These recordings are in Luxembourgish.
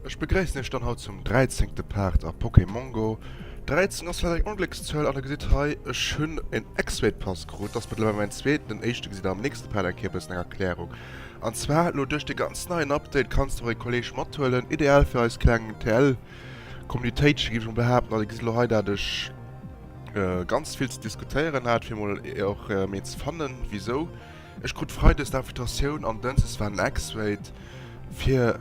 Ech begréissen iech dann haut zum 13. Part a Pokémon Go. 13 ass vielleicht eng Ongléckszuel an der gesitt hei, ech hunn en X-Weight Pass krut, ass mëttlerweil mäin zweeten, den éischte gesitt der am nächste Part eng Kéier e bëssen eng Erklärung. An zwar elo duerch de ganz neien Update kanns de och e Kolleg mathuelen, ideal fir eis kleng TL Kommunitéitchen géif ech emol behaapten, an dir gesitt elo hei dat ech, äh, ganz vill ze diskutéieren hat, fir mol e- och äh, mee ze fannen, wieso. Ech krut Freides d'Invitatioun an Dënses war Nextwait fir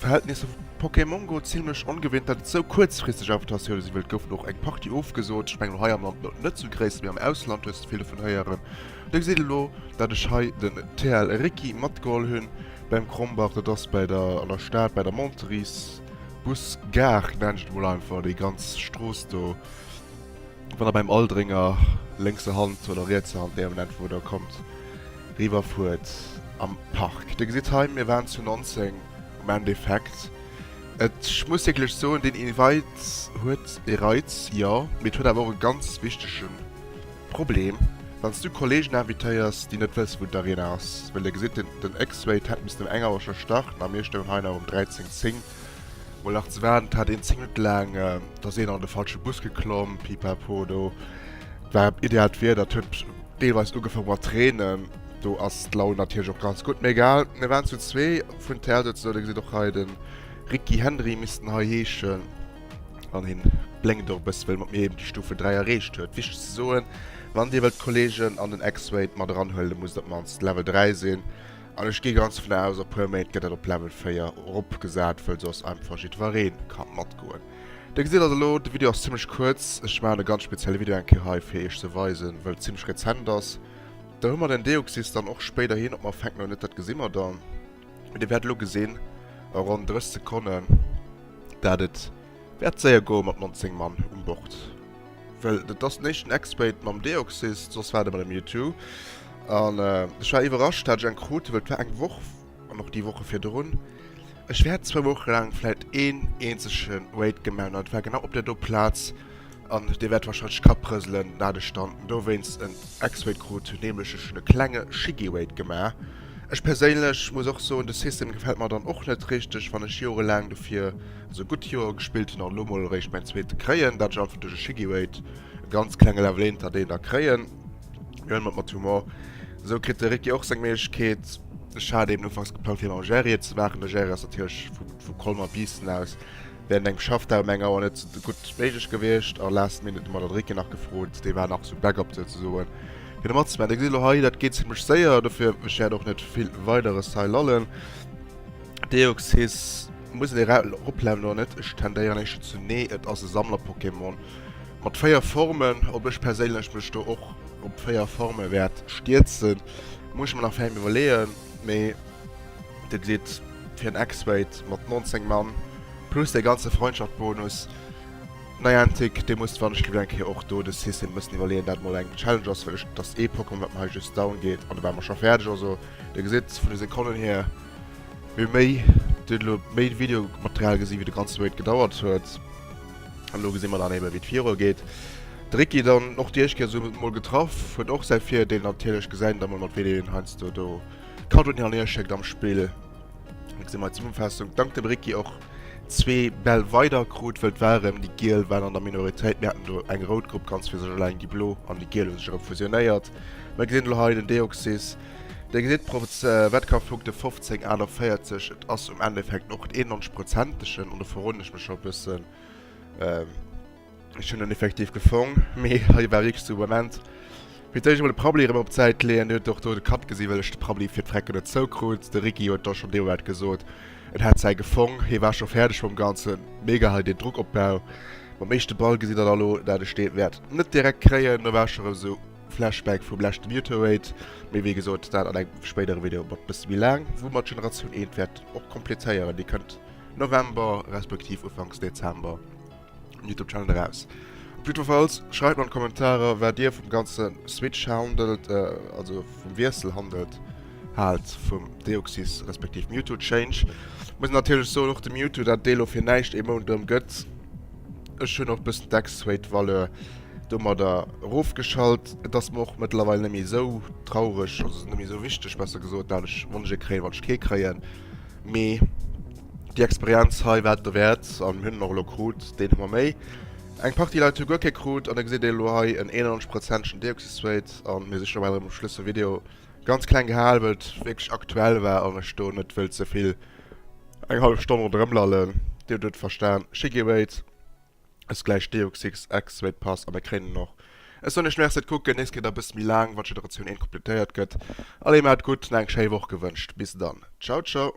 Verhältnisse vu Pokémon Go ziemlech ongewinnt, dat et sou kuerzfristeg Invitatioune si wëllt goufen och eng Party ofgesot. Ich mengel hei am Land no- net zu gréisst, mee am Ausland hues du vill vun héieren. Da gesäit e lo, dat ech hei den TL Ricky matgeholl hunn beim Krombach, dat ass bei der an der Stad bei der Monteries. Bus Gare nennen ech et mol einfach, déi ganz Strooss do, wann der beim Aldringer lénkser Hand oder rietser Hand, déi Ament wou der kommt, riwwer fuert am Park. Dir gesitt hei, mir waren zu 19 am Endeffekt. Ech muss wierklech soen, deen Invite huet e Reiz, jo, mee et huet awer och e ganz wichtegen. Problem, wann s du Kollegen invitéiers, déi net wësse wou d'Arena ass, well dir gesitt, den X-Wait hätt missten um eng Auer scho starten a mir stoungen hei nach um 13, 10 mol nach ze waarden. Et hat een 10 Minutte laang, da ass een an de falsche Bus geklomm, pipapo, do war ideaalt Wieder, et huet deelweis ugefaang mat reenen, do ass d'Laun natierlech och ganz gutt, mee egal. Mir waren zu zwee vun tl, souz, dir gesitt och hei de Ricky, Hendry misst en hei heeschen. An hien blénkt och e bëssen, wéi e mat mir eben déi Stufe 3 erreecht huet. Wichteg ze soen, Wann dir wëllt d'Kollegen an den X-Wade mat eranhuelen, muss et op d'mannst Level 3 sinn. An ech gi ganz dovun aus, a puer Méint gëtt dat op Level 4 eropgesat, wëll soss einfach jiddweree ka matgoen. Dir gesitt also elo, de Video ass zimmlech kuerz. Ech maachen e ganz spezielle Video eng Kéier hei, fir iech ze weisen, wëll et zimmlech rezent ass. Da hu mer den Deoxys dann och spéiderhin. Ob mer fänken oder net, dat gesi mer dann. Mee Dir wäert elo gesinn a ronn 30 Sekonnen, dat et wäert séier goe mat 19 Mann um Bord. Well dat ass den éischten Ex-Mate mam Deoxys, soss war et ëmmer de Mewtwo. An ech war iwwerrascht, dat ech eng krut, well et war eng Woch, an och déi Woche virdrun, ech wäert zwou Woche laang vläicht een eenzege Raid gemaach hunn, an et war genau op där do Plaz, An dir wäert wahrscheinlech Kapp rëselen, dat ech dann dowéinst en X-Weight krut hunn, nämlech ech hunn e klenge Shiggy-Weight gemaach. Ech perséinlech muss och soen, de System gefält mer dann och net richteg, wann ech jorelaang dofir, also gutt Joer gespillt hunn an elo mol eréischt mäin zweete kréien, dat ech einfach duerch e Shiggy-Weight e ganz klenge Level éinter deen da kréien. Mee huelen mer et mat Humor. Esou kritt de Ricky och seng Méiglechkeet. Ech hat eben ufanks geplangt fir mam Gerrie et ze maachen, de Gerrie ass natierlech vu Colmer-Biissen aus Während engem Schaff dat um eng Auer net sou gutt méiglech gewiescht a last minute de Maledricke nach gefrot, dee war nach sou backup souzesoen fir de matzeman. Dir gesitt elo hei, dat geet zimlech séier, dofir ech wäert och net vill weideres hei lallen. Deoxys muss een era eropleven oder net? Ech tendéieren éischter zu nee, et ass e Sammlerpokémon mat 4 Formen. Ob ech perséinlech mech do och op 4 Forme wäert stierzen, muss ech mer nach fäim iwwerleeën, mee. De Glidd fir en X-Weight mat 19 Mann plus dee ganze Freundschaft-Bonus. Niantic, dir musst wann ech gewinnen eng Kéier och do de System e bëssen iwwerleeën, dat mol eng Challenge ass, well ech, dat ass ee Pokémon wat mer hei just down geet an da ware mer scho fäerdeg. Also dir gesitt vun de Sekonnen hier, wéi méi dir hutt elo méi Videomaterial gesi wéi de ganze Weight gedauert huet an elo gesi mer dann ebe wéi et virua geet. De Ricky dann och Diechkes huet et mol getraff, huet och säi Virdeel natierlech, gesäit et da mol mat wéi deen heiansdo do. Kado den Herr Leschek am Spill. Ech sinn mei Zesummenfaassung dank dem Ricky och zwee Bäll weider krut wëll d'Warem déi Giel waren an der Minoritéit. Mir haten do eng rout Grupp ganz fir sech eleng, déi Blo an déi Giel hu sech erëm fusionéiert. Mer gesinn elo hei den Deoxys dee gesitt pro Wettkampfpunkte 15, 41. Et ass um Endeffekt och d'eenhonschprozentegen an do verroden ech mech scho e bëssen. Ech hunn en effektiv gefong, mee hei war wierklech de Moment, fir d'éischt emol de Prabbeli erëm op d'Säit ze leeën. Hien huet och do de Kapp gesinn, well ech de Prabbeli fir d'Frecken net zoukrut. De Ricky huet da schonn deemoolet gesot, en hätt säi gefong. Hie war scho fäerdeg mam Ganzen, mega hei deen Drockopbau. Mam éischte Ball gesinn der da lo, dat ech dee wäert net direkt kréien. Do war ech scho erëm esou Flashback vum leschten Youtowait, mee wéi gesot, dat an engem spéidere Video mat bësse méi laang, wou mer d'Generatioun eent wäerten och kompletéieren. Déi kënnt November respektiv Ufanks Dezember. Youtube Channel eraus. Op jiddwerfalls schreibt mal an Kommentarer wat dir vum ganze Switch handelt äh, also vum Wiessel handelt halt vum Deoxys respektiv Mewtwo Change. Muss natürlich so noch dem Mewtwo dat Delo fir näicht e Mount dëm gëtt. Ech hun och bëssen Decksweight Valeur dummer der rofgeschalt. Et ass mer och mëttlerweil nemmi sou traureg, also nemmi sou wichteg besser gesot, dat ech wann ech e kréien, wann ech kee kréien. Mee déi Experienz hei war et dowäert an mir hunn en och elo krut, deen hu mer méi. Eng Partie Leit hu guer kee krut an da gesitt een elo hei en 91 prozentegen Deoxysrate an mir si scho bal erëm um Schluss vum Video. Ganz kleng gehal, wëll et wierklech aktuell war an ech do net wëll ze vill eng hallef Stonn ronderëm lallen. Dir hutt et verstan. Shigewait. Ech gläich Deox Six Ex Swate Pass an der kréinen och. Ech soen iech Merci et kucken, nächst Kéier da bëssi méi laang wann Generatioun eent kompletéiert gëtt. Allez maat et gutt an eng schéi Woch gewënscht. Bis dann. Ciao ciao.